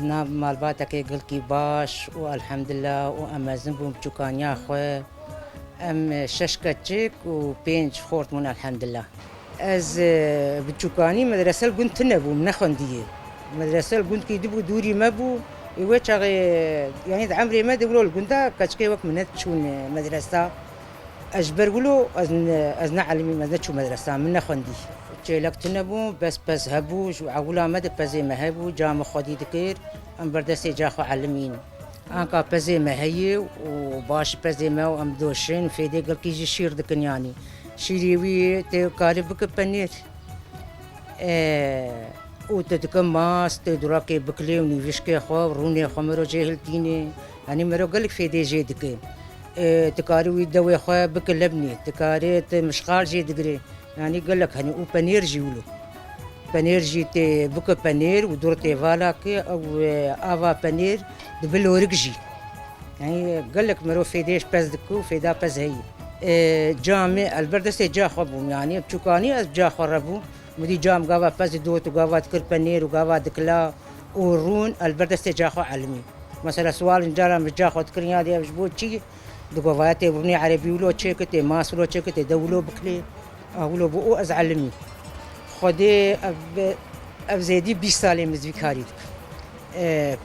Di nav malbatekê gilkî baş û elhemdilla û em mezin bûn bi çûkaniya xwe. Em şeş keçik û pênc xort bûn elhemdilla. Ez bi çûkanî medrese li gund tune bûm, nexwendiyê. Medrese li gund kî dibû dûrî me bû. Ê wê çaxê yanî di emrê me de wilo li gunda keçikê wek min ne diçûn medresa. Ez ji ber wilo ez ne elmîm, ez neçûm medresa, min nexwendî. Çêlek tune bû, pez pez hebû, ji ewila me de pezê me hebû, ca min xwedî dikir, em berdestê ca xwe elmîn. Anka pezê me heye û baş pezê me û em doşin fêdê gilkî jî şîr dikin yanî. Şîrê wî tu karî bike penîr û tu dike mas, tu durakê bikilê û nîvîşkê xwe û rûnê xwe mirocê hiltînê. Yanî miro gelek fêdê jê dike. Tu karî wî dewê xwe bikî lebnî, tu karî tu mişxal jî digirî. Yanî gelek hene û penêr jî wilo. Penêr jî tê bikî penêr û dor tê vala kî ew ava penêr dibi lorik jî. Yanî gelek mirov fêdêş pez dikî û fêda pez heyî. Camê elbir destê ca xwe bûm yanî çûkanî ez bi ca xwe re bûm. Mudî cam gava pez didot û gava dikir penêr û gava dikila û rûn li ber destê ca xwe elmî. Mesela siwalên caran bi ca xwe dikirin ya dê ev ji bo çi di govaya tê rûnê erebî wilo çê kitê, mas wilo çê kitê de wilo bikilê a wilo bû û ez elmî. Xwedê ev zêdî bîst sal ê min vî karî dikim.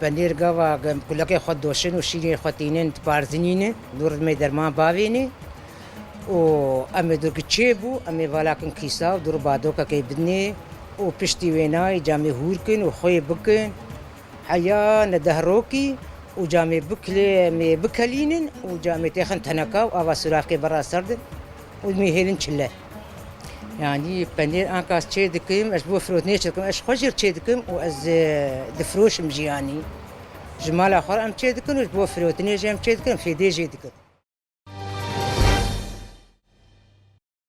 Penêr gava kulekê xwe doşin û şîrên xwe tînin diparzinînin, dû ridmê derman bavênê. û em ê durki çê bû em ê valakin kîsa û dûr badokekê bidinê û piştî wê nayê camê hûrkin û xwê bikin heya ne dehrokî û camê bikilê em ê bikelînin û camê têxin teneka û ava sûraxê bera serdin û em ê hêlin çile. Yanî penêr anka ez çê dikim ez ji bo firotinê çê dikim ez ji xwe jî çê dikim û ez difroşim jî yanî. Ji mala xwe re em çê dikin û ji bo firotinê jî em çê dikin, fêdê jê dikin.